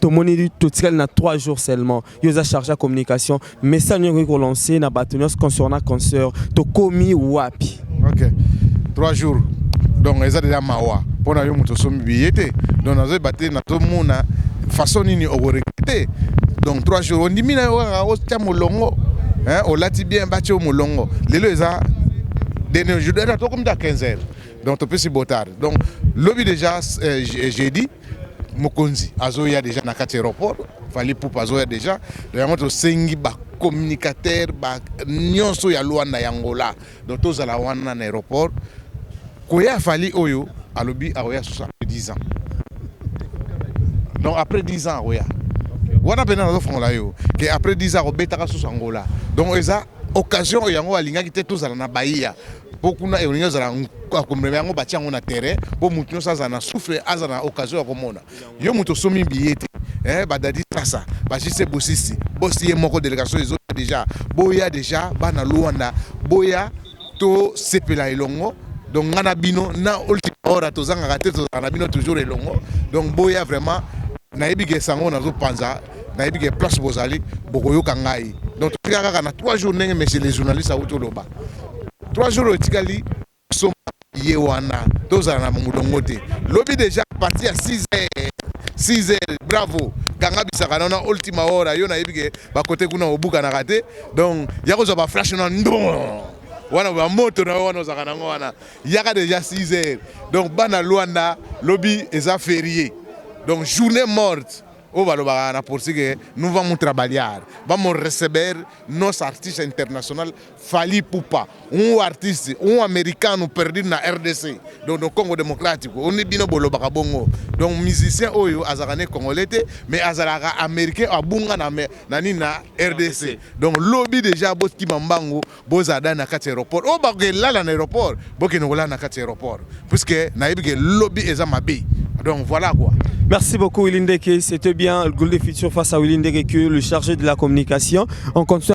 tomoni totikali na 3 jours seulement yo oza charge ya communication message nini okoki kolancer na bato nyonso concernant concert tokomi wapi ok 3 jours donc eza deja mawa mpo na yo moto osombi biye te donc nazoyeba te nazomona façon nini okoregrete donc 3 jours ondimi na yo kaka otya molongo olati bien batya yo molongo lelo eza dernier jour tokomi ta 15 heures donc topesi botard donc lobi déjà euh, jeudi Mokonzi azoya deja na kati ya aeroport, Fally Ipupa azoya deja, donc yango tosengi ba communicateurs ba nionso ya Luanda ya Angola, donc tozala wana na aeroport. Koya ya Fally oyo alobi akoya susu après 10 ans, donc après 10 ans akoya wana pena nazofongola yo ke après 10 ans akobetaka susu Angola, donc eza occasion oyo yango alingaki te tozala na Bahia po kuna ekolingi ozala akomema yango batia yango na terrain po moto nyonso azala na souffle aza na occasion ya komona yo moto osomi biye te eh, badadi sasa bajise bosisi bosi ye moko delegation ezoya deja boya deja bana luanda boya tosepela elongo donc ngai na bino na ultima hora tozangaka te tozalaka na bino toujours elongo donc boya vraiment nayebi ke sango nazopanza nayebi ke place bozali bokoyoka ngai donc totika kaka na 3 jours ndenge monsieur le journaliste awuti oloba 3 jours etikali soma ye wana tozala na molongo te lobi deja parti ya 6 heures 6 heures bravo kanga bisaka na na ultima hora yo nayebi ke bakote kuna obukanaka te donc ya kozwa baflash na ndon wana bamoto na yo wana ozalaka nango wana yaka deja 6 heures donc bana lwanda lobi eza ferie donc journée morte Oyo balobaka na portugais que nous vamos trabalhar, vamos receber nosso artista internacional Fally Ipupa, um artiste, um americano perdido na rdc, donc no Congo Democratico, oyo nde bino bolobaka bongo. Donc musicien oyo azalaka ne congolais te, mais azalaka americain abunga na na nini na rdc. Donc lobi dejà botima mbangu. Bozala da na kati ya aeroport oyo bakoke lala na aeroport bokende kolala na kati ya aeroport puisque nayebi ke lobi eza mabe donc voilà quoi. Merci beaucoup Willy Ndeke, c'était bien le Gold Future face à Willy Ndeke que le chargé de la communication. On continue